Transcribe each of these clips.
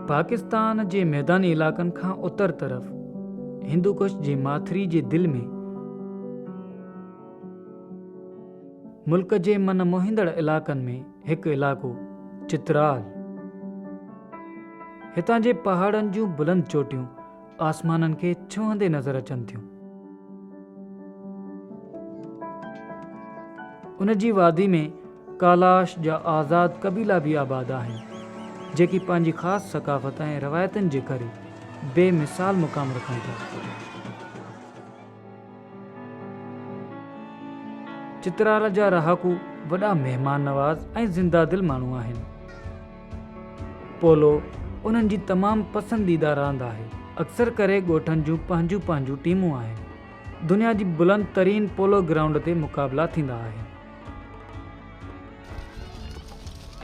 پاڪستان جي ميداني علائقن کان اتر طرف هندوڪش جي ماٿري جي دل ۾ ملڪ جي من موهيندڙ علائقن ۾ هڪ علائقو چترال. هتان جي پهاڙن جون بلند چوٽيون آسمانن کي ڇهندي نظر اچن ٿيون. ان جي وادي ۾ ڪالاش جا آزاد قبيلا به آباد آهن، جيڪي پنهنجي خاص ثقافت ۽ روايتن جي ڪري بي مثال مقام رکن ٿا. چترال جا رهاڪو وڏا مهمان نواز ۽ زنده دل ماڻهو آهن. پولو انهن جي تمام پسنديده راند آهي. اڪثر ڪري ڳوٺن جون پنهنجون پنهنجون ٽيمون آهن. دنيا جي بلند ترين پولو گرائونڊ تي مقابلا ٿيندا آهن.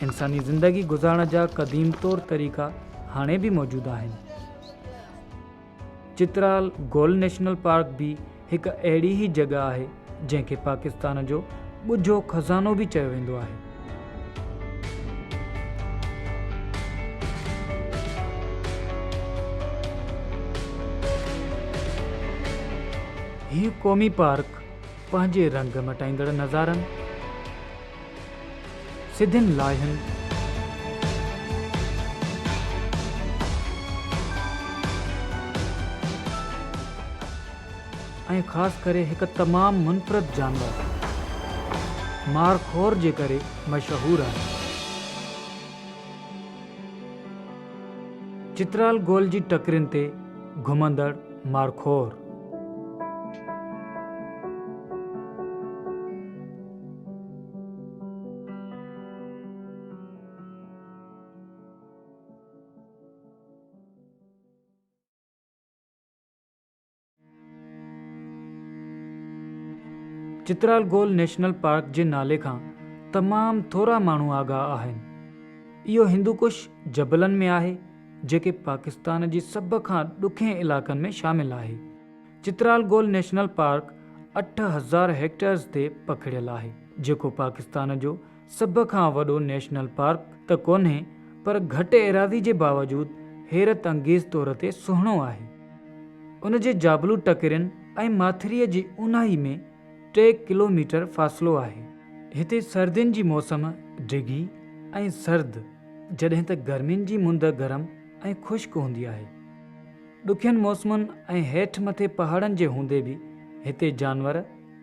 انساني زندگي گذارڻ جا قديم طور طريقا هاڻي به موجود آهن. چترال گول نيشنل پارڪ به هڪ اهڙي ئي جڳهه آهي جنهن کي پاڪستان جو ڳجهو خزانو به چيو ويندو آهي. هي قومي پارڪ پنهنجي رنگ مٽائيندڙ نظارن، سڌين لائحن، ۽ خاص ڪري هڪ تمام منفرد جانور مار خور جي ڪري مشهور آهي. چترال گول جي ٽڪرين تي گهمندڙ مارخور. چترال گول نيشنل پارڪ جي نالي کان تمام ٿورا ماڻهو آگاهه آهن. اهو هندوڪش جبلن ۾ آهي. جيڪي پاڪستان جي سڀ کان ڏکين علائقن ۾ شامل آهي. چترال گول نيشنل پارڪ اٺ هزار هيڪٽيئرز تي پکڙيل آهي، جيڪو پاڪستان جو سڀ کان وڏو نيشنل پارڪ ته ڪونهي پر گهٽ ايراضي جي باوجود حيرت انگيز طور تي سهڻو آهي. ان جي جابلو ٽڪرين ۽ ماٿريء جي اونهائي ۾، ٽي ڪلوميٽر فاصلو آهي. هتي سردين جي موسم ڊگهي ۽ سرد جڏهن ته گرمين جي مند گرم ۽ خشڪ هوندي آهي. ڏکين موسمن ۽ هيٺ مٿي پهاڙن جي هوندي به هتي جانور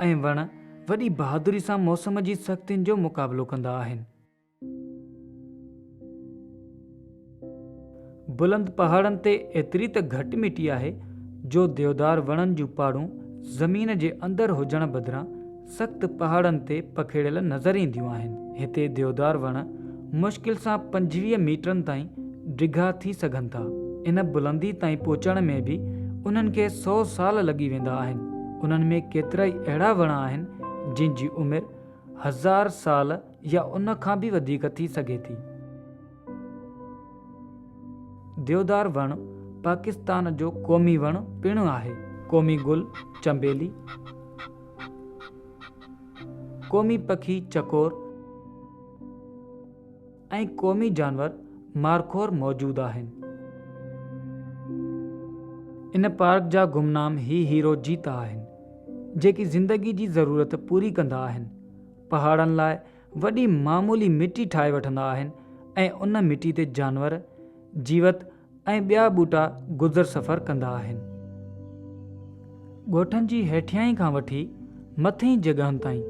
۽ وڻ وڏي بهادري سان موسم جي سختين جو مقابلو ڪندا آهن. بلند پهاڙن تي ايتري ته گهٽ مٽي آهي جو ديودار وڻن جون پاڙون زمين جي اندر هجڻ بدران سخت پهاڙن تي پکيڙيل نظر اينديون آهن. هتي ديودار وڻ مشڪل سان پنجويهه ميٽرن تائين ڊگها ٿي سگهن ٿا. ان بلندي تائين پهچڻ ۾ به انهن کي سؤ سال لڳي ويندا آهن. انهن ۾ ڪيترائي اهڙا وڻ آهن جن جي عمر هزار سال يا ان کان به وڌيڪ ٿي سگهي ٿي. ديودار وڻ پاڪستان جو قومي وڻ پڻ آهي. قومي گل چنبيلي. قومي پکي چڪور ۽ قومي جانور مارخور موجود آهن. ان پارڪ جا گمنام هي هيرو جيتا آهن، جيڪي زندگي جي ضرورت پوري ڪندا آهن. پهاڙن لاء وڏي معمولي مٽي ٺاهي وٺندا آهن ۽ ان مٽي تي جانور، جيوت ۽ ٻيا ٻوٽا گذر سفر ڪندا آهن. ڳوٺن جي هيٺيائين کان وٺي مٿئين جڳهن تائين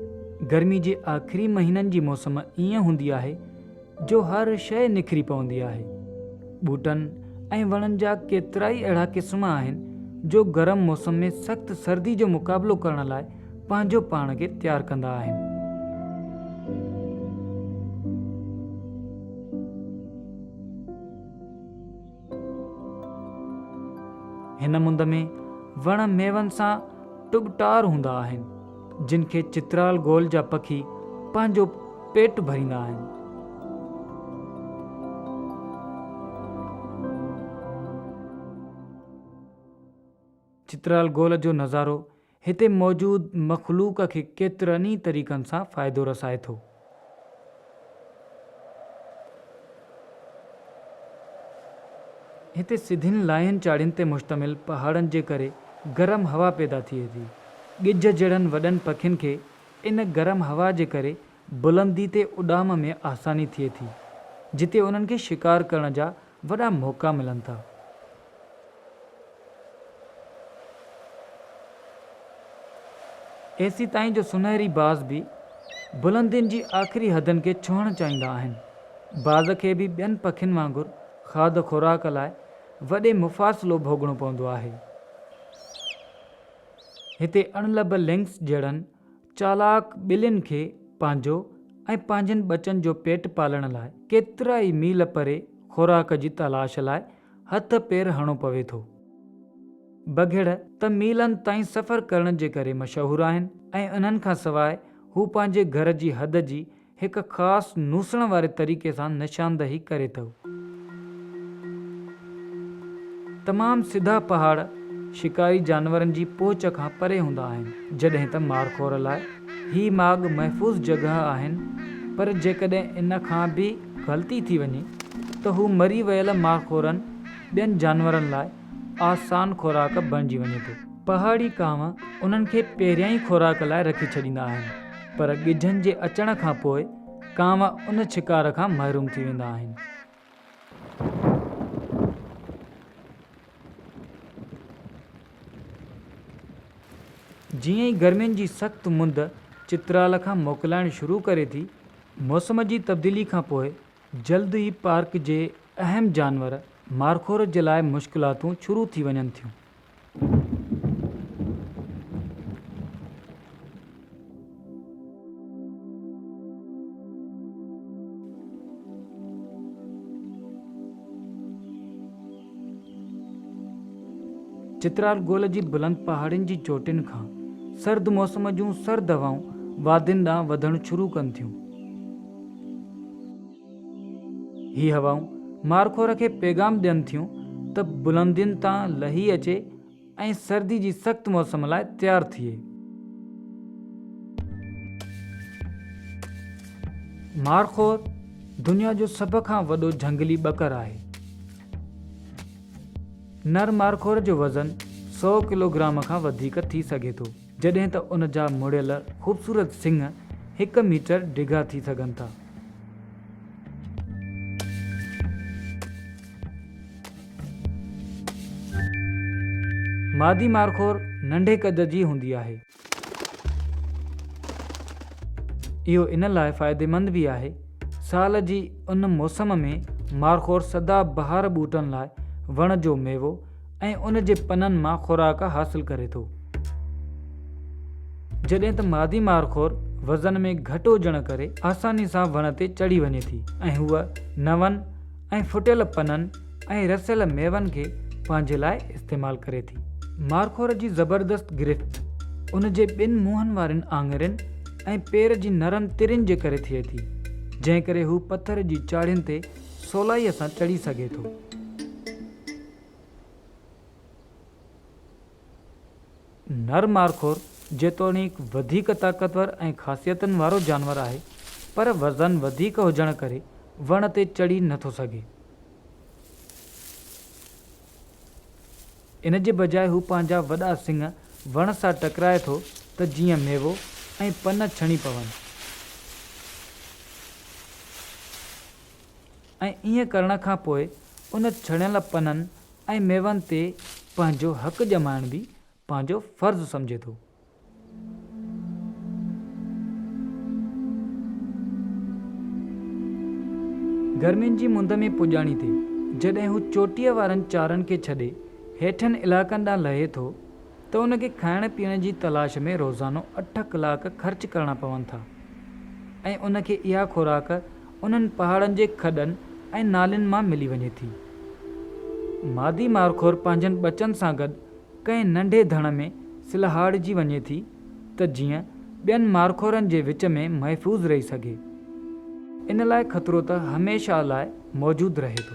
گرمي جي آخري مهينن جي موسم ائين هوندي آهي جو هر شيء نکري پوندي آهي. ٻوٽن ۽ وڻن جا ڪيترائي اهڙا قسم آهن جو گرم موسم ۾ سخت سردي جو مقابلو ڪرڻ لاء پنهنجو پاڻ کي تيار ڪندا آهن. هن مند ۾ وڻ ميون سان ٽٻٽار هوندا آهن جن کي چترال گول جا پکي پنهنجو پيٽ ڀريندا آهن چترال گول جو نظارو هتي موجود مخلوق کي ڪيترن ئي طريقن سان فائدو رسائي ٿو. هتي سڌين لاهين چاڙهين تي مشتمل پهاڙن جي ڪري گرم هوا پيدا ٿئي ٿي. ڳجهه جهڙن وڏن پکين کي ان گرم هوا جي ڪري بلندي تي اڏام ۾ آساني ٿئي ٿي، جتي انهن کي شڪار ڪرڻ جا وڏا موقعا ملن ٿا. ايسي تائين جو سونهري باز به بلندين جي آخري حدن کي ڇهڻ چاهيندا آهن. باز کي به ٻين پکين وانگر کاڌ خوراڪ لاء وڏي مفاصلو ڀوڳڻو پوندو آهي. هتي اڻلڀ لنڪس جهڙن چالاڪ ٻلين کي پنهنجو ۽ پنهنجن ٻچن جو پيٽ پالڻ لاء ڪيترا ئي ميل پري خوراڪ جي تلاش لاء هٿ پير هڻو پوي ٿو. بگهڙ ته ميلن تائين سفر ڪرڻ جي ڪري مشهور آهن ۽ انهن کان سواء هو پنهنجي گهر جي حد جي هڪ خاص نوسڻ واري طريقي سان نشاندهي ڪري ٿو. تمام سڌا پهاڙ شڪاري جانورن جي پهچ کان پري هوندا آهن، جڏهن ته مارخور لاء هي ماڳ محفوظ جڳهه آهن، پر جيڪڏهن ان کان به غلطي ٿي وڃي ته هو مري ويل مارخورن ٻين جانورن لاء آسان خوراڪ بڻجي وڃي ٿو. پهاڙي ڪانء انهن کي پهريان ئي خوراڪ لاء رکي ڇڏيندا آهن، پر ڳجهن جي اچڻ کان پوء ڪانء ان شڪار کان محروم ٿي ويندا آهن. جيئن ئي گرمين جي سخت مند چترال کان موڪلائڻ شروع ڪري ٿي، موسم جي تبديلي کان پوء جلد ئي پارڪ جي اهم جانور مارخور جي لاء مشڪلاتون شروع ٿي وڃن ٿيون. چترال گول جي بلند پهاڙين جي چوٽين کان سرد موسم جون سرد هوائون وادين ڏانهن وڌڻ شروع ڪن ٿيون. هي هوائون مارخور کي پيغام ڏين ٿيون ته بلندين تان لهي اچي ۽ سردي جي سخت موسم لاء تيار ٿئي. مارخور دنيا جو سڀ کان وڏو جهنگلي ٻڪر آهي. نر مارخور جو وزن سؤ ڪلوگرام کان وڌيڪ ٿي سگهي ٿو. جڏهن ته ان جا مڙيل خوبصورت سنڱ هڪ ميٽر ڊگها ٿي سگهن ٿا. مادي مارخور ننڍي قد جي هوندي آهي. اهو ان لاء فائديمند به آهي. سال جي ان موسم ۾ مارخور سدا بهار ٻوٽن لاء وڻ جو ميوو ۽ ان جي پنن مان خوراڪ حاصل ڪري ٿو. جڏهن ته مادي مارخور وزن ۾ گهٽ هجڻ ڪري آساني سان وڻ تي چڙهي وڃي ٿي ۽ هوء نون ۽ ڦٽيل پنن ۽ رسيل ميون کي پنهنجي لاء استعمال ڪري ٿي. مارخور جي زبردست گرفت ان جي ٻن منهن وارين آڱرين ۽ پير جي نرم ترين جي ڪري ٿئي ٿي، جنهن ڪري هو پٿر جي چاڙهين تي سولائيء سان چڙهي سگهي ٿو. نر مارخور جيتوڻيڪ وڌيڪ طاقتور ۽ خاصيتن وارو جانور آهي، پر وزن وڌيڪ هجڻ ڪري وڻ تي چڙهي نٿو سگهي. ان جي بجاء هو پنهنجا وڏا سڱ وڻ سان ٽڪرائي ٿو ته جيئن ميوو ۽ پن ڇڻي پون. ۽ ائين ڪرڻ کان پوء ان ڇڻيل پنن ۽ ميون تي پنهنجو حق ڄمائڻ به پنهنجو فرض سمجهي ٿو. گرمين جي مند ۾ پڄاڻي تي جڏهن هو چوٽيء وارن چارن کي ڇڏي هيٺين علائقن ڏانهن لهي ٿو ته ان کي کائڻ پيئڻ جي تلاش ۾ روزانو اٺ ڪلاڪ خرچ ڪرڻا پون ٿا ۽ ان کي اها خوراڪ انهن پهاڙن جي کڏن ۽ نالين مان ملي وڃي ٿي. مادي مارخور پنهنجن ٻچن سان گڏ ڪنهن ننڍي ڌڻ ۾ سلهاڙجي وڃي ٿي ته جيئن ٻين مارخورن جي وچ ۾ محفوظ رهي سگهي. ان لاء خطرو ته هميشه لاء موجود رهي ٿو.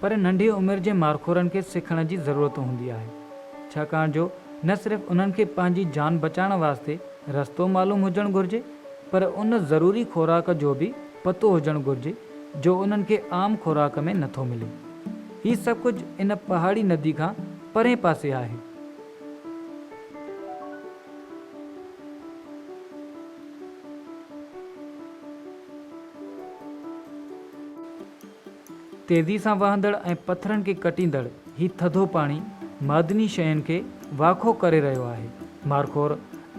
پر ننڍي عمر جي مارخورن کي سکڻ جي ضرورت هوندي آهي، ڇاڪاڻ جو نه صرف انهن کي پنهنجي جان بچائڻ واسطي رستو معلوم هجڻ گهرجي، پر ان ضروري خوراڪ جو به پتو هجڻ گهرجي، جو انهن کي عام خوراڪ ۾ نٿو ملي. هي سڀ ڪجهه ان پهاڙي ندي کان پرئين پاسي آهي. تيزي سان وهندڙ ۽ پٿرن کي ڪٽيندڙ هي ٿڌو پاڻي معدني شين کي واکو ڪري رهيو آهي. مارخور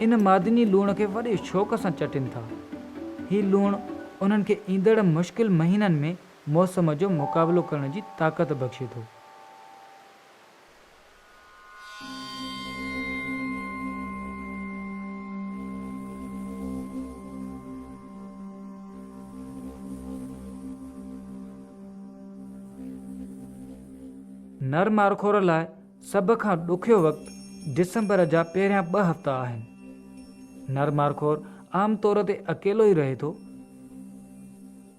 ان معدني لوڻ کي وڏي شوق سان چٽين ٿا. هي لوڻ انهن کي ايندڙ مشڪل مهينن ۾ موسم جو مقابلو ڪرڻ جي طاقت بخشي ٿو. نر مارخور لاء سڀ کان ڏکيو وقت ڊسمبر جا پهريان ٻه هفتا آهن. نر مارخور عام طور تي اڪيلو ئي رهي ٿو.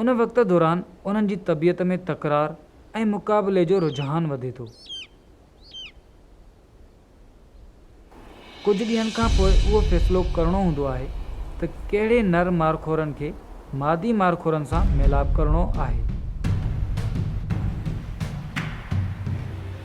ان وقت دوران انهن جي طبيعت ۾ تڪرار ۽ مقابلي جو رجحان وڌي ٿو. ڪجهه ڏينهن کان پوء اهو فيصلو ڪرڻو هوندو آهي ته ڪهڙي نر مارخورن کي مادي مارخورن سان ميلاپ ڪرڻو آهي.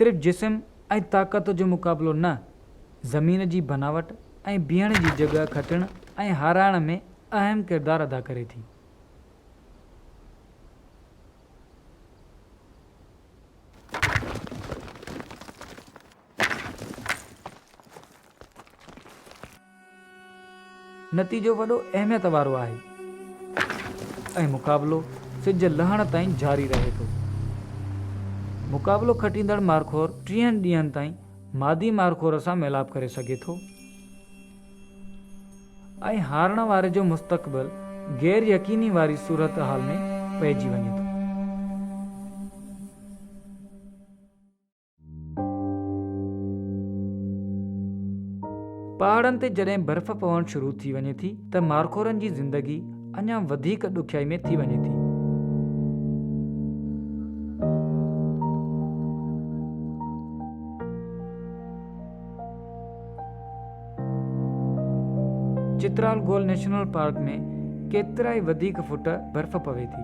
صرف جسم ۽ طاقت جو مقابلو نه، زمين جي بناوٽ ۽ بيهڻ جي جڳهه کٽڻ ۽ هارائڻ ۾ اهم ڪردار ادا ڪري ٿي. نتيجو وڏو اهميت وارو آهي ۽ مقابلو سج لهڻ تائين جاري رهي ٿو. مقابلو کٽيندڙ مارخور ٽيهن ڏينهن تائين مادي مارخور سان ميلاپ ڪري سگهي ٿو. ۽ هارڻ واري جو مستقبل غير يقيني واري صورتحال ۾ پئجي وڃي ٿو. پهاڙن تي جڏهن برف پوڻ شروع ٿي وڃي ٿي ته مارخورن جي زندگي اڃا وڌيڪ ڏکيائي ۾ ٿي وڃي ٿي. چترال گول نيشنل پارڪ ۾ ڪيترائي وڌيڪ فوٽ برف پوي ٿي.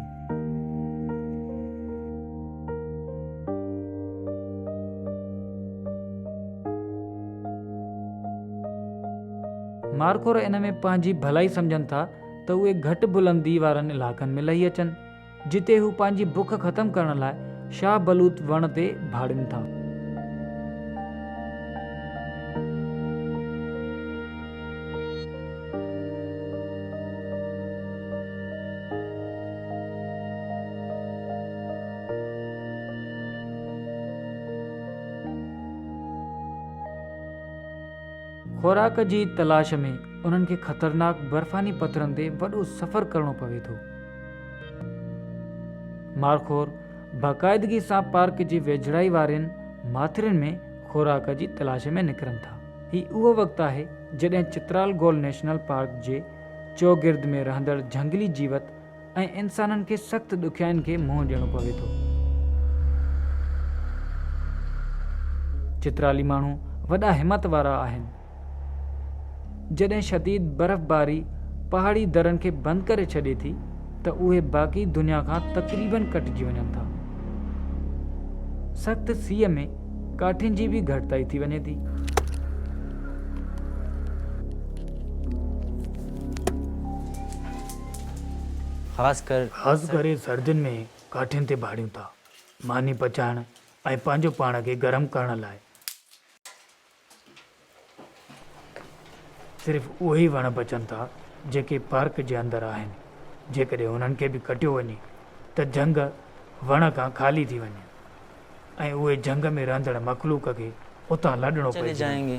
مارخور ان ۾ پنهنجي ڀلائي سمجهن ٿا ته اهي گهٽ بلندي وارن علائقن ۾ لهي اچن. جتي هو پنهنجي بک ختم ڪرڻ لاء شاه بلوط وڻ تي ڀاڙين ٿا. خوراڪ جي تلاش ۾ انهن کي خطرناڪ برفاني پٿرن تي وڏو سفر ڪرڻو پوي ٿو. مارخور باقاعدگي سان پارڪ جي ويجهڙائي وارين ماٿرين ۾ خوراڪ جي تلاش ۾ نڪرن ٿا. هي اهو وقت آهي جڏهن چترال گول نيشنل پارڪ جي چوگرد ۾ رهندڙ جهنگلي جيوت ۽ انسانن کي سخت ڏکيائين کي منهن ڏيڻو پوي ٿو. چترالي ماڻهو وڏا همت وارا آهن. جڏهن شديد برفباري پهاڙي درن کي بند ڪري ڇڏي ٿي ته اهي باقي دنيا کان تقريبن ڪٽجي وڃن ٿا سخت سيء ۾ ڪاٺين جي به گهٽتائي ٿي وڃي ٿي خاص ڪري سردين ۾ ڪاٺين تي ڀاڙيون ٿا ماني پچائڻ ۽ پنهنجو پاڻ کي گرم ڪرڻ لاء صرف اهي ئي وڻ بچن ٿا جيڪي پارڪ جي اندر آهن، جيڪڏهن انهن کي به ڪٽيو وڃي ته جهنگ وڻ کان خالي ٿي وڃي ۽ اهي جهنگ ۾ رهندڙ مخلوق کي اتان لڏڻو پئجي وڃي.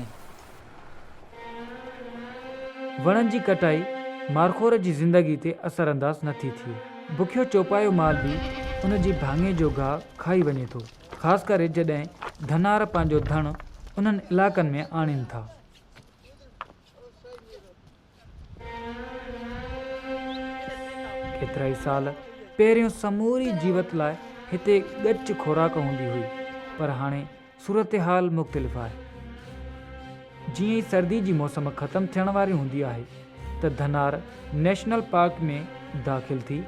وڻن جي ڪٽائي مارخور جي زندگي تي اثر انداز نٿي ٿئي، بکيو چوپايو مال به ان جي ڀاڱي جو گاهه کائي وڃي ٿو. خاص ڪري جڏهن ڌنار پنهنجو ڌڻ انهن علائقن ۾ آڻين ٿا. ڪيترائي سال پهريون سموري جيوت لاء هتي ڳچ خوراڪ هوندي هئي پر هاڻي صورتحال مختلف آهي. جيئن ئي سردي جي موسم ختم ٿيڻ واري هوندي آهي ته ڌنار نيشنل پارڪ ۾ داخل ٿي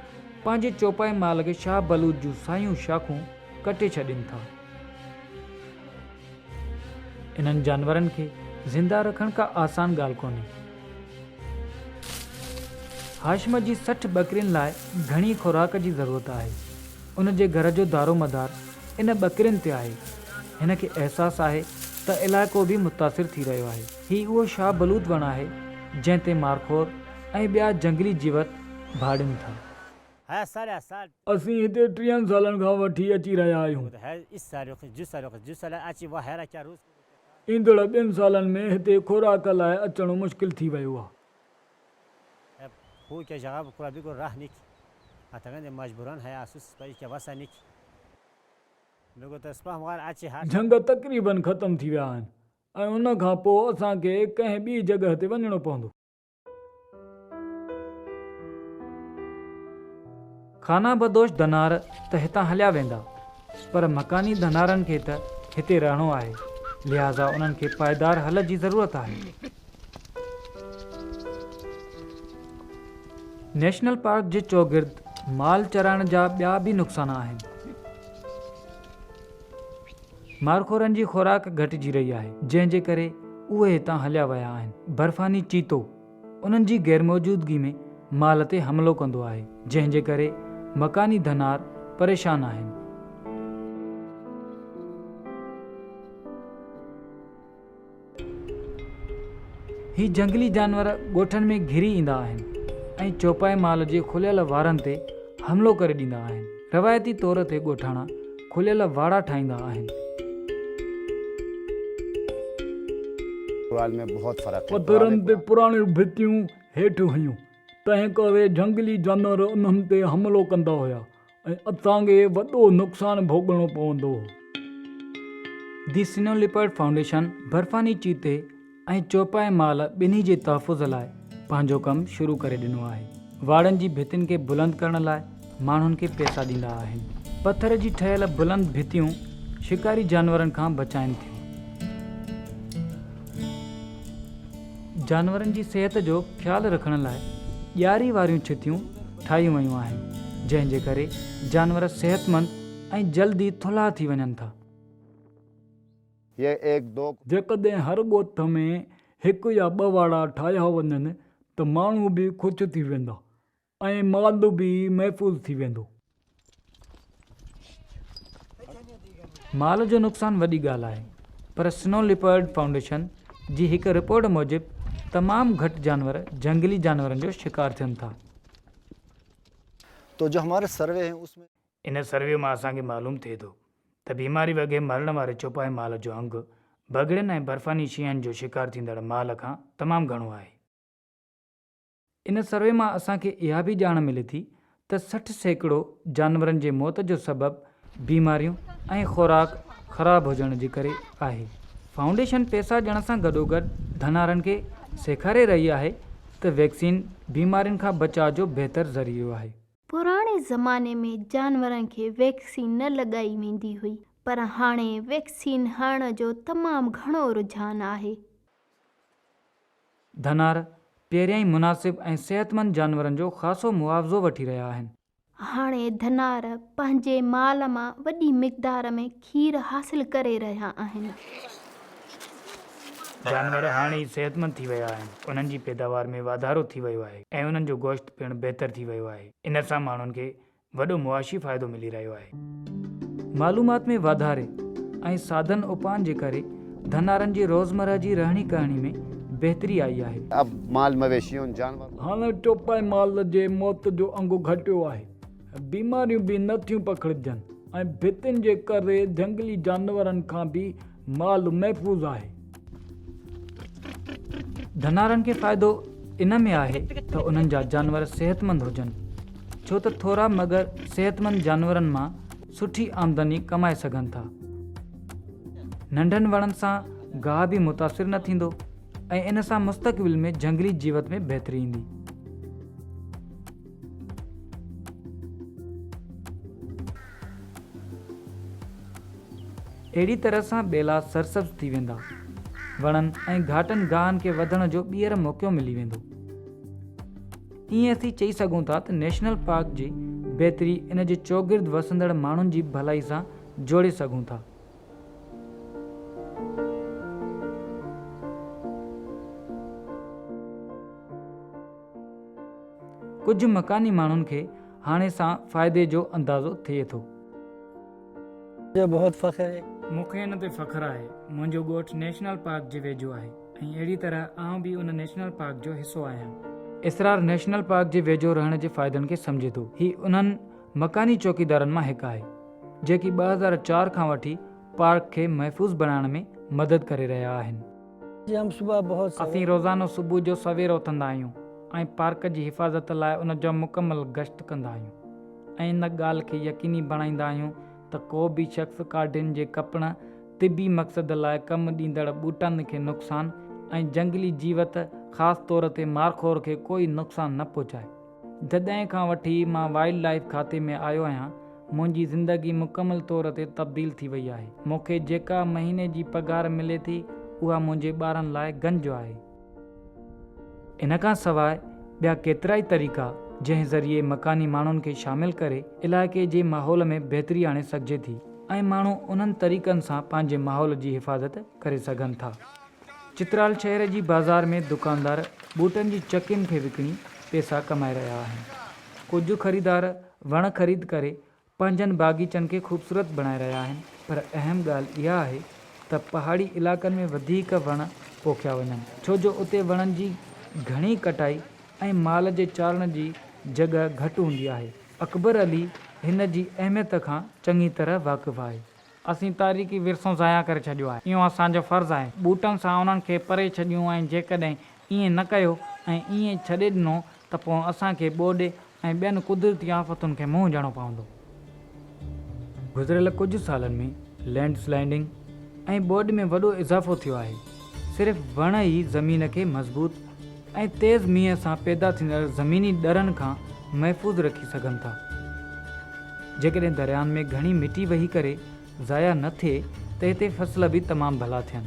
پنهنجي چوپائي مال کي شاهه بلوچ جون سايون شاخون ڪٽي ڇڏين ٿا. انهن جانورن کي زنده رکڻ ڪا آسان ڳالهه ڪونهي. هاشم جي سٺ ٻڪرين لاء گهڻي خوراڪ جي ضرورت آهي. ان جي گهر جو دارومدار ان ٻڪرين تي آهي. هن کي احساس آهي ته علائقو به متاثر ٿي رهيو آهي. هي اهو شاهه بلوط وڻ آهي، جنهن تي مارخور ۽ ٻيا جهنگلي جيوت ڀاڙين ٿا. اسين هتي ٽيهن سالن کان وٺي اچي رهيا آهيون. ايندڙ ٻن سالن ۾ هتي خوراڪ لاء اچڻ مشڪل ٿي ويو آهي. جهنگ تقريبن ختم ٿي ويا آهن ۽ ان کان پوء اسان کي ڪنهن ٻي جڳهه تي وڃڻو پوندو. خانه بدوش ڌنار ته هتان هليا ويندا پر مڪاني ڌنارن کي ته هتي رهڻو آهي لهٰذا انهن کي پائيدار حل جي ضرورت آهي. نيشنل پارڪ جي چوگرد مال چرائڻ جا ٻيا به نقصان آهن. مارخورن جي خوراڪ گهٽجي رهي آهي، جنهن جي ڪري اهي هتان هليا ويا آهن. برفاني چيتو انهن جي غيرموجودگي ۾ مال تي حملو ڪندو آهي، جنهن جي ڪري مڪاني ڌنار پريشان آهن. هي جهنگلي جانور ڳوٺن ۾ گهري ايندا آهن ۽ چوپائي مال جي کليل واڙن تي حملو ڪري ڏيندا آهن. روايتي طور تي ڳوٺاڻا کليل واڙا ٺاهيندا آهن. پٿرن تي پراڻيون ڀتيون هيٺ هيون، تنهن ڪري جهنگلي جانور انهن تي حملو ڪندا هيا. ۽ اسان کي وڏو نقصان ڀوڳڻو پوندو. دي سنو ليپرڊ فائونڊيشن برفاني چيتي ۽ چوپائي مال ٻنهي جي تحفظ لاء پنهنجو ڪم شروع ڪري ڏنو آهي. واڙن جي ڀتين کي بلند ڪرڻ لاء ماڻهن کي پئسا ڏيندا آهن. پٿر جي ٺهيل بلند ڀتيون شڪاري جانورن کان بچائين ٿيون. جانورن جي صحت جو خيال رکڻ لاء ڄاري واريون ڇتيون ٺاهيون ويون آهن جنهن جي ڪري جانور صحتمند ۽ جلدي ٿلها ٿي وڃن ٿا. جيڪڏهن هر ڳوٺ ۾ هڪ يا ٻه واڙا ٺاهيا وڃن ته ماڻهو به خوش ٿي ويندا ۽ مال به محفوظ ٿي ويندو. مال جو نقصان وڏي ڳالهه آهي پر سنو ليپرڊ فائونڊيشن جي هڪ رپورٽ موجب تمام گهٽ جانور جهنگلي جانورن جو شڪار ٿين ٿا. تو جو همارا سروي هين اس ۾. ان سروي مان اسان کي معلوم ٿئي ٿو ته بيماري وگهي مرڻ واري چوپائي مال جو انگ بگهڙين ۽ برفاني شين جو شڪار ٿيندڙ مال کان تمام گهڻو آهي. ان سروي مان اسان کي اها به ڄاڻ ملي ٿي ته سٺ سيڪڙو جانورن جي موت جو سبب بيماريون ۽ خوراڪ خراب هجڻ جي ڪري آهي. فائونڊيشن پيسا ڏيڻ سان گڏوگڏ ڌنارن کي سيکاري رهي آهي ته ويڪسين بيمارين کان بچاء جو بهتر ذريعو آهي. پراڻي زماني ۾ جانورن کي ويڪسين نه لڳائي ويندي هئي پر هاڻي ويڪسين هڻڻ جو تمام گهڻو رجحان آهي. ڌنار پهريان ئي مناسب ۽ صحتمند جانورن جو خاصو معاوضو وٺي رهيا آهن. هاڻي ڌنار پنهنجي مال مان وڏي مقدار ۾ کير حاصل ڪري رهيا آهن. جانور هاڻي ئي صحتمند ٿي ويا آهن، انهن جي پيداوار ۾ واڌارو ٿي ويو آهي ۽ انهن جو گوشت پڻ بهتر ٿي ويو آهي. ان سان ماڻهن کي وڏو معاشي فائدو ملي رهيو آهي. معلومات ۾ واڌاري ۽ سادن اپائن جي ڪري ڌنارن جي روزمره جي رهڻي ڪهڻي ۾ بهتري آئي آهي. اب مال مويشي ان جانورن. هاڻ چوپائي مال جي موت جو انگو گهٽيو آهي، بيماريون به نه ٿيون پکڙجن ۽ ڀتين جي ڪري جهنگلي جانورن کان به مال محفوظ آهي. ڌنارن کي فائدو ان ۾ آهي ته انهن جا جانور صحتمند هجن ڇو ته ٿورا مگر صحتمند جانورن مان سٺي آمدني ڪمائي سگهن ٿا. ننڍن وڻن سان گاهه به متاثر نه ٿيندو ۽ ان سان مستقبل ۾ جهنگلي جيوت ۾ بهتري ايندي. اهڙي طرح سان ٻيلا سرسبز ٿي ويندا. وڻن ۽ گهاٽن گاهن کي وڌڻ جو ٻيهر موقعو ملي ويندو. ائين اسين چئي سگهون ٿا ته نيشنل پارڪ جي بهتري ان جي چوگرد وسندڙ ماڻهن جي ڀلائي سان جوڙي سگهون ٿا. ڪجهه مڪاني ماڻهن کي هاڻي سان فائدي جو اندازو ٿئي ٿو. جو بهت فخر هي. مون کي ان تي فخر آهي. منهنجو ڳوٺ نيشنل پارڪ جي ويجهو آهي ۽ اهڙي طرح آئون به ان نيشنل پارڪ جو حصو آهيان. اسرار نيشنل پارڪ جي ويجهو رهڻ جي فائدن کي سمجهي ٿو. هي انهن مڪاني چوڪيدارن مان هڪ آهي، جيڪي ٻه هزار چار کان وٺي پارڪ کي محفوظ بڻائڻ ۾ مدد ڪري رهيا آهن. اسين روزانو صبح جو سوير اٿندا آهيون ۽ پارڪ جي حفاظت لاء ان جو مڪمل گشت ڪندا آهيون ۽ ان ڳالهه کي يقيني بڻائيندا آهيون ته ڪو به شخص ڪاڍين جي ڪپڻ، طبي مقصد لاء ڪم ڏيندڙ ٻوٽن کي نقصان ۽ جهنگلي جيوت خاص طور تي مارخور کي ڪوئي نقصان نه پهچائي. جڏهن کان وٺي مان وائلڊ لائيف کاتي ۾ آيو آهيان، منهنجي زندگي مڪمل طور تي تبديل ٿي وئي آهي. مون کي جيڪا مهيني جي پگهار ملي ٿي، اها منهنجي ٻارن لاء گنج آهي. ان کان سواء ٻيا ڪيترائي طريقا جنهن ذريعي مڪاني ماڻهن کي شامل ڪري علائقي جي ماحول ۾ بهتري آڻي سگهجي ٿي ۽ ماڻهو انهن طريقن سان پنهنجي ماحول جي حفاظت ڪري سگهن ٿا. چترال شهر جي بازار ۾ دڪاندار بوٽن جي چڪين کي وڪڻي پئسا ڪمائي رهيا آهن. ڪجهه خريدار وڻ خريد ڪري پنهنجن باغيچن کي خوبصورت بڻائي رهيا آهن پر اهم ڳالهه اها آهي ته پهاڙي علائقن ۾ وڌيڪ وڻ پوکيا وڃن ڇو جو اتي وڻن جي گهڻي ڪٽائي ۽ مال جي چارڻ جي جڳهه گهٽ هوندي آهي. اڪبر علي هن جي اهميت کان چڱي طرح واقف آهي. اسين تاريخي ورثو ضايع ڪري ڇڏيو آهي. اهو اسان جو فرض آهي. ٻوٽن سان انهن کي پري ڇڏيون ۽ جيڪڏهن ائين نه ڪيو ۽ ائين ڇڏي ڏنو ته پوء اسان کي ٻوڏ ۽ ٻين قدرتي آفتن کي منهن ڏيڻو پوندو. گذريل ڪجهه سالن ۾ لينڊ سلائيڊنگ ۽ ٻوڏ ۾ وڏو اضافو ٿيو آهي. صرف وڻ ئي زمين کي مضبوط. ۽ تيز مينهن سان پيدا ٿيندڙ زميني ڏرن کان محفوظ رکي سگهن ٿا. جيڪڏهن دريائن ۾ گهڻي مٽي وهي ڪري ضايع نه ٿئي ته هتي فصل به تمام ڀلا ٿين.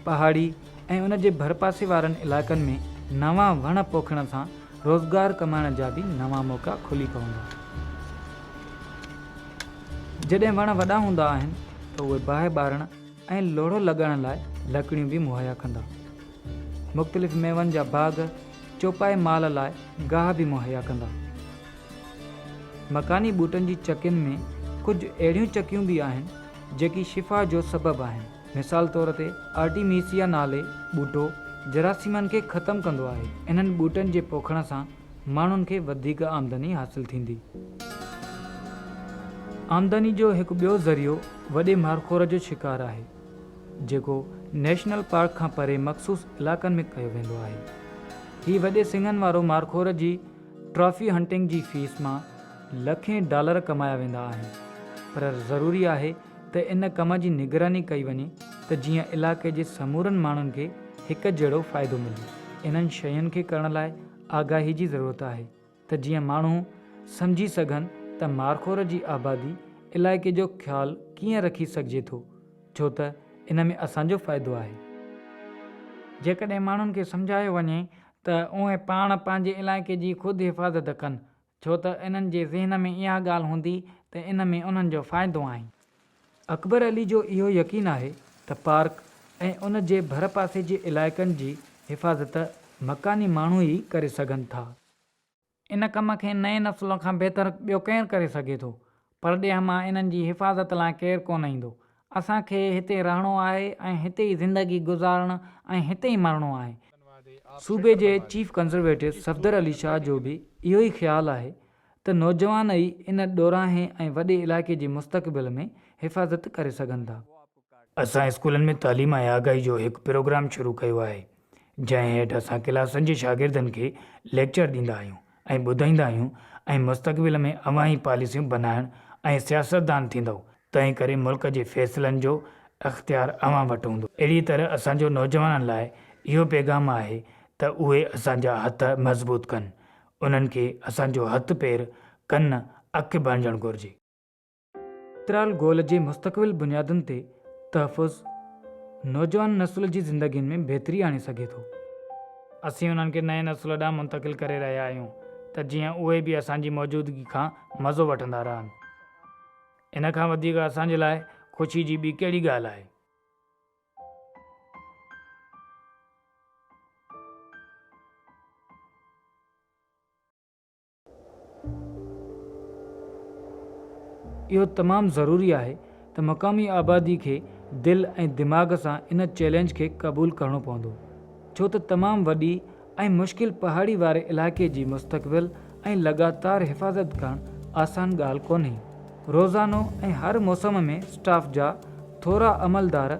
پهاڙي ۽ ان جي ڀرپاسي وارن علائقن ۾ نوان وڻ پوکڻ سان روزگار ڪمائڻ جا به نوان موقعا کلي پوندا. جڏهن وڻ وڏا هوندا آهن ته اهي باهه ٻارڻ، ۽ لوڙهو لڳائڻ لاء لڪڙيون به مهيا ڪندا. مختلف ميون جا باغ چوپائي مال لاء گاهه به مهيا ڪندا. مڪاني ٻوٽن جي چڪين ۾ ڪجهه اهڙيون چڪيون به آهن جيڪي شفا جو سبب آهن. مثال طور تي آرٽيميسيا نالي ٻوٽو جراثيمن کي ختم ڪندو آهي. انهن ٻوٽن جي پوکڻ سان ماڻهن کي وڌيڪ آمدني حاصل ٿيندي. آمدني جو هڪ ٻيو ذريعو وڏي مارخور جو شڪار آهي، جيڪو نيشنل پارڪ کان پري مخصوص علائقن ۾ ڪيو ويندو آهي. هي وڏي سنگهن وارو مارخور جي ٽرافي هنٽنگ جي فيس مان لکين ڊالر ڪمايا ويندا آهن، پر ضروري آهي ته ان ڪم جي نگراني ڪئي وڃي ته جيئن علائقي جي سمورن ماڻهن کي هڪ جهڙو فائدو ملي. انهن شين کي ڪرڻ لاء آگاهي جي ضرورت آهي ته جيئن ماڻهو سمجهي سگهن ته مارخور جي آبادي علائقي جو خيال ڪيئن رکي سگهجي ٿو ڇو ته ان ۾ اسان جو فائدو آهي. جيڪڏهن ماڻهن کي سمجهايو وڃي ته اهي پاڻ پنهنجي علائقي جي خود حفاظت ڪن ڇو ته انهن جي ذهن ۾ اها ڳالهه هوندي ته ان ۾ انهن جو فائدو آهي. اڪبر علي جو اهو يقين آهي ته پارڪ ۽ ان جي ڀرپاسي جي علائقن جي حفاظت مڪاني ماڻهو ئي ڪري سگهن ٿا. ان ڪم کي نئين نسل کان بهتر ٻيو ڪير ڪري سگهي ٿو؟ پرڏيهه مان انهن جي حفاظت لاء ڪير ڪونه ايندو. اسان کي هتي رهڻو آهي ۽ هتي ئي زندگي گذارڻ ۽ هتي ئي مرڻو آهي. صوبي جي چيف ڪنزرويٽو صفدر علي شاهه جو به اهو ئي خيال آهي ته نوجوان ئي ان ڏورانهين ۽ وڏي علائقي جي مستقبل ۾ حفاظت ڪري سگهن ٿا. اسان اسڪولن ۾ تعليم ۽ آگاهي جو هڪ پروگرام شروع ڪيو آهي، جنهن هيٺ اسان ڪلاسن جي شاگردن کي ليڪچر ڏيندا آهيون ۽ ٻڌائيندا آهيون ۽ مستقبل ۾ اوهان ئي پاليسيون بنائڻ ۽ سياستدان ٿيندؤ، تنهن ڪري ملڪ جي فيصلن جو اختيار اوهان وٽ هوندو. اهڙيء طرح اسان جو نوجوانن لاء اهو پيغام آهي ته اهي اسان جا هٿ مضبوط ڪن، انهن کي اسان جو هٿ پير، ڪن، اک بڻجڻ گهرجي. ترال گول جي مستقبل بنيادن تي تحفظ نوجوان نسل جي زندگين ۾ بهتري آڻي سگهي ٿو. اسين انهن کي نئين نسل ڏانهن منتقل ڪري رهيا آهيون ته جيئن اهي به اسان جي موجودگي کان مزو وٺندا رهن. ان کان وڌيڪ اسان جي لاء خوشي جي ٻي ڪهڙي ڳالهه آهي؟ اهو تمام ضروري آهي ته مقامي آبادي کي دل ۽ دماغ سان ان چئلينج کي قبول ڪرڻو پوندو ڇو ته تمام وڏي ۽ مشڪل پهاڙي واري علائقي جي مستقبل ۽ لڳاتار حفاظت ڪرڻ آسان ڳالهه ڪونهي. روزانو ۽ هر موسم ۾ اسٽاف جا ٿورا عملدار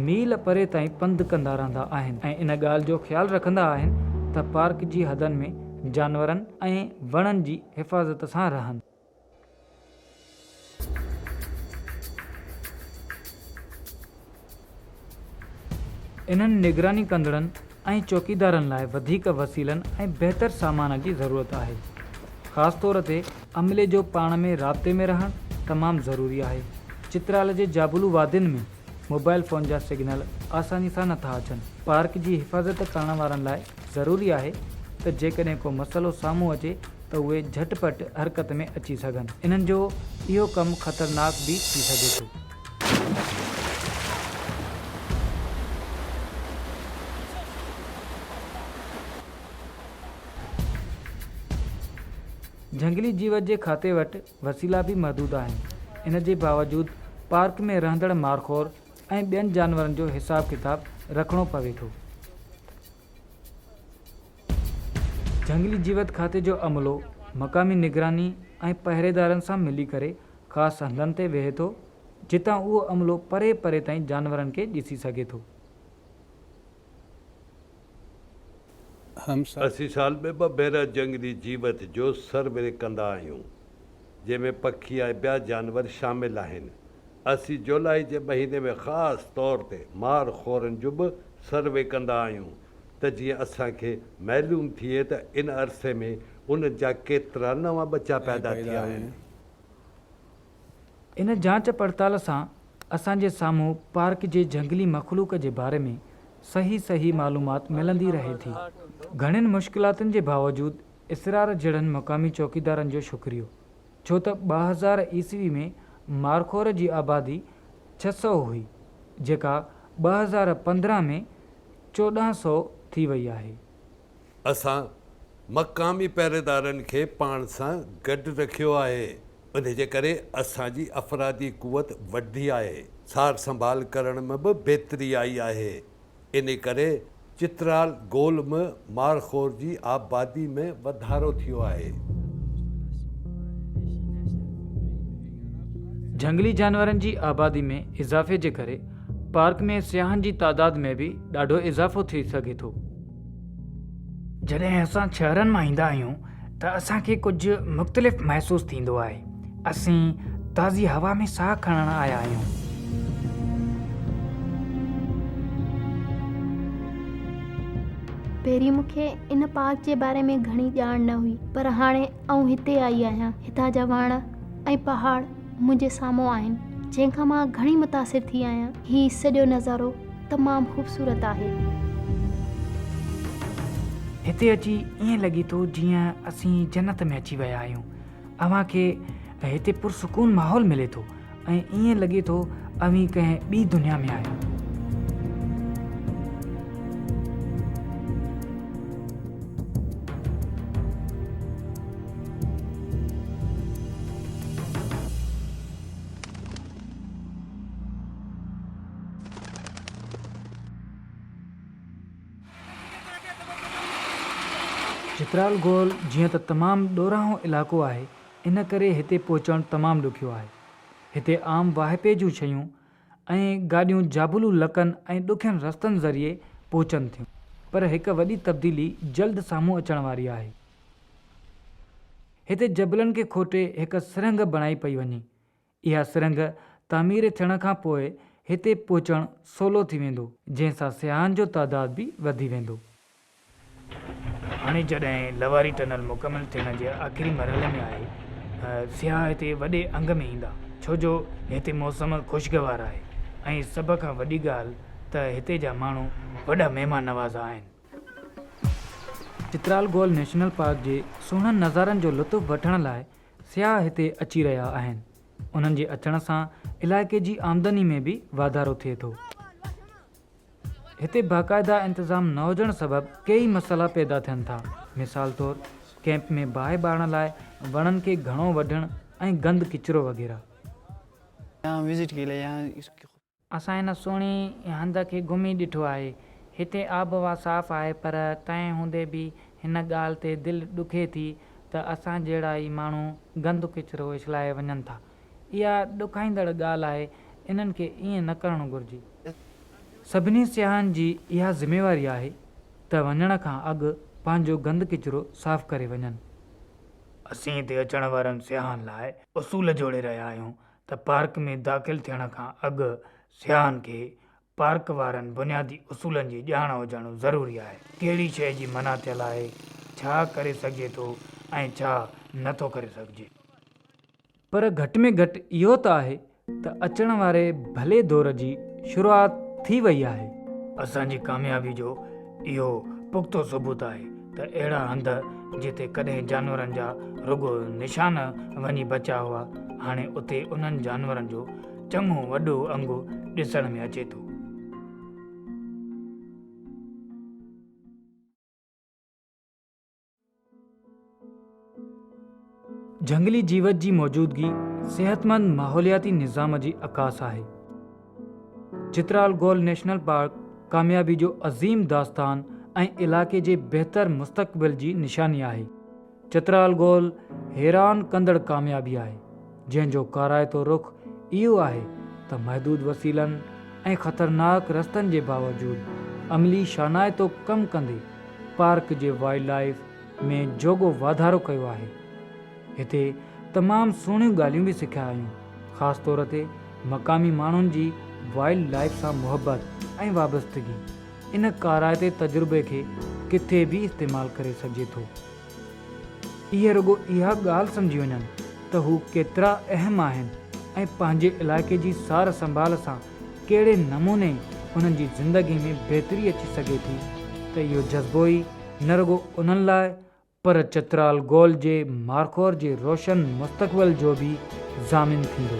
ميل پري تائين پنڌ ڪندا رهندا آهن ۽ ان ڳالهه جو خيال رکندا آهن ته پارڪ جي حدن ۾ جانورن ۽ وڻن جي حفاظت سان رهن. انهن نگراني ڪندڙن ۽ چوڪيدارن لاء وڌيڪ وسيلن ۽ بهتر سامان جي ضرورت آهي. خاص طور تي عملي جو پاڻ ۾ رابطي ۾ رهڻ تمام ضروري آهي. چترال جي جابلو وادين ۾ موبائل فون جا سگنل آساني سان نٿا اچن. پارڪ جي حفاظت ڪرڻ وارن لاء ضروري آهي ته جيڪڏهن ڪو مسئلو سامهون اچي ته اهي جهٽ پٽ حرڪت ۾ اچي سگهن. انهن جو اهو ڪم خطرناڪ به ٿي سگهي ٿو. جهنگلي جيوت جي کاتي وٽ وسيلا به محدود آهن ان جي باوجود پارڪ ۾ رهندڙ مارخور ۽ ٻين جانورن جو حساب ڪتاب رکڻو پوي ٿو. جهنگلي جيوت کاتي جو عملو مقامي نگراني ۽ پهريدارن سان ملي ڪري خاص هنڌن تي ويهي ٿو جتان اهو عملو پري پري تائين جانورن کي ڏسي سگهي ٿو. اسين سال ۾ ٻه ڀيرا جهنگلي جيوت جو سروي ڪندا آهيون جنهن ۾ پکي ۽ ٻيا جانور شامل آهن. اسين جولائي جي مهيني ۾ خاص طور تي مار خورن جو به سروي ڪندا آهيون ته جيئن اسان کي معلوم ٿئي ته ان عرصي ۾ انهن جا ڪيترا نوان ٻچا پيدا ٿيا آهن. ان جاچ پڙتال سان اسان جي سامهون پارڪ جي جهنگلي مخلوق جي باري ۾ صحيح صحيح معلومات ملندي رهي ٿي. گهڻين مشڪلاتن جي باوجود اسرار جهڙن مقامي چوڪيدارن جو شڪريو ڇو ته ٻه هزار عيسوي ۾ مارخور جي آبادي ڇهه سؤ هئي جيڪا ٻه هزار پندرهن ۾ چوڏهن سؤ ٿي وئي آهي. اسان مقامي پهريدارن کي پاڻ سان گڏ رکيو آهي، انهي جي ڪري اسان جي افرادي قوت وڌي آهي، سار سنڀال ڪرڻ ۾ به بهتري آئي آهي، انهي ڪري چترال گول م مارخور جي آبادي ۾ وڌارو ٿيو آهي. جهنگلي جانورن جي آبادي ۾ اضافي جي ڪري پارڪ ۾ سياحن جي تعداد ۾ به ڏاڍو اضافو ٿي سگهي ٿو. جڏهن اسان شهرن مان ايندا آهيون ته اسان کي ڪجهه مختلف محسوس ٿيندو آهي اسين تازي هوا ۾ ساهه کڻڻ آيا آهيون پهرين مون کي ان پارڪ جي باري ۾ گهڻي ڄاڻ نه هئي پر هاڻي آئون هتي آئي آهيان هتان جا وڻ ۽ پهاڙ منهنجي سامهون آهن جنهن کان مان گهڻي متاثر ٿي آهيان هي سڄو نظارو تمام خوبصورت آهي. هتي اچي ائين لڳي ٿو جيئن اسين جنت ۾ اچي ويا آهيون. اوهان کي هتي پرسڪون ماحول ملي ٿو ۽ ائين لڳي ٿو اوهين ڪنهن ٻي دنيا ۾ آهيو. چترال گول جيئن ته تمام ڏورانهون علائقو آهي ان ڪري هتي پهچڻ تمام ڏکيو آهي. هتي عام واهپي جون شيون ۽ گاڏيون جابلو لڪن ۽ ڏکين رستن ذريعي پهچن ٿيون پر هڪ وڏي تبديلي جلد سامهون اچڻ واري آهي. هتي جبلن کي کوٽي هڪ سرنگهه بڻائي پئي وڃي اها سرنگهه تعمير ٿيڻ کان پوء هتي پهچڻ سولو ٿي ويندو، جنهن سان سياحن جو تعداد به وڌي ويندو. هاڻي جڏهن لواري ٽنل مڪمل ٿيڻ جي آخري مرحلي ۾ آهي، سياح هتي وڏي انگ ۾ ايندا، ڇو جو هتي موسم خوشگوار آهي ۽ سڀ کان وڏي ڳالهه ته هتي جا ماڻهو وڏا مهمان نواز آهن. چترال گول نيشنل پارڪ جي سهڻن نظارن جو لطف وٺڻ لاء سياح هتي اچي رهيا آهن، انهن جي اچڻ سان علائقي جي آمدني ۾ به واڌارو ٿئي ٿو. هتي باقاعده انتظام نه هجڻ سبب ڪيئي مسئلا پيدا ٿين ٿا، مثال طور ڪئمپ ۾ باهه ٻارڻ لاء وڻن کي گهڻو وڍڻ ۽ گند ڪچرو وغيره. اسان هن سهڻي هنڌ کي گهمي ڏٺو آهي. هتي آبهوا صاف آهي پر تنهن هوندي به هن ڳالهه تي دل ڏکي ٿي ته اسان جهڙا ئي ماڻهو گند ڪچرو اڇلائي وڃن ٿا. اها ڏکائيندڙ ڳالهه آهي، انهن کي ائين نه ڪرڻ گهرجي. سڀني سياحن جي اها ذميواري آهي ته وڃڻ کان اڳ پنهنجو گند ڪچرو صاف ڪري وڃن. اسين هتي اچڻ وارن سياحن لاء اصول جوڙي رهيا آهيون ته پارڪ ۾ داخل ٿيڻ کان اڳ سياحن کي پارڪ وارن بنيادي اصولن جي ڄاڻ هجڻ ضروري آهي. ڪهڙي شيء جي منع ٿيل آهي، ڇا ڪري سگهجي ٿو ۽ ڇا نه ٿو ڪري سگهجي. پر گهٽ ۾ گهٽ اهو ته آهي ته اچڻ واري ڀلي دور جي شروعات ٿي وئي آهي. اسان جي ڪاميابي جو اهو پختو ثبوت آهي ته اهڙا هنڌ جتي ڪڏهن جانورن جا رڳو نشان وڃي بچا هئا، هاڻي اتي انهن جانورن جو چڱو وڏو انگ ڏسڻ ۾ اچي ٿو. جهنگلي جيوت جي موجودگي صحتمند ماحولياتي نظام جي عڪاس آهي. چترال گول نيشنل پارڪ ڪاميابي جو عظيم داستان ۽ علائقي جي بهتر مستقبل جي نشاني آهي. چترال گول حيران ڪندڙ ڪاميابي آهي. جنهن جو ڪارائتو رخ اهو آهي ته محدود وسيلن ۽ خطرناڪ رستن جي باوجود عملي شانائتو ڪم ڪندي پارڪ جي وائلڊ لائيف ۾ جوڳو واڌارو ڪيو آهي. هتي تمام سهڻيون ڳالهيون به سکيا آهيون خاص طور تي مقامي ماڻهن جي وائلڊ لائيف سان محبت ۽ وابستگي ان ڪارائتي تجربي کي ڪٿي به استعمال ڪري سگهجي ٿو. اهي رڳو اها ڳالهه سمجهي وڃن ته هو ڪيترا اهم آهن ۽ پنهنجي علائقي جي سار سنڀال سان ڪهڙي نموني انهن جي زندگي ۾ بهتري اچي سگهي ٿي ته اهو جذبو ئي نه رڳو انهن لاء پر چترال گول جي مارخور جي روشن مستقبل جو به ضامن ٿيندو.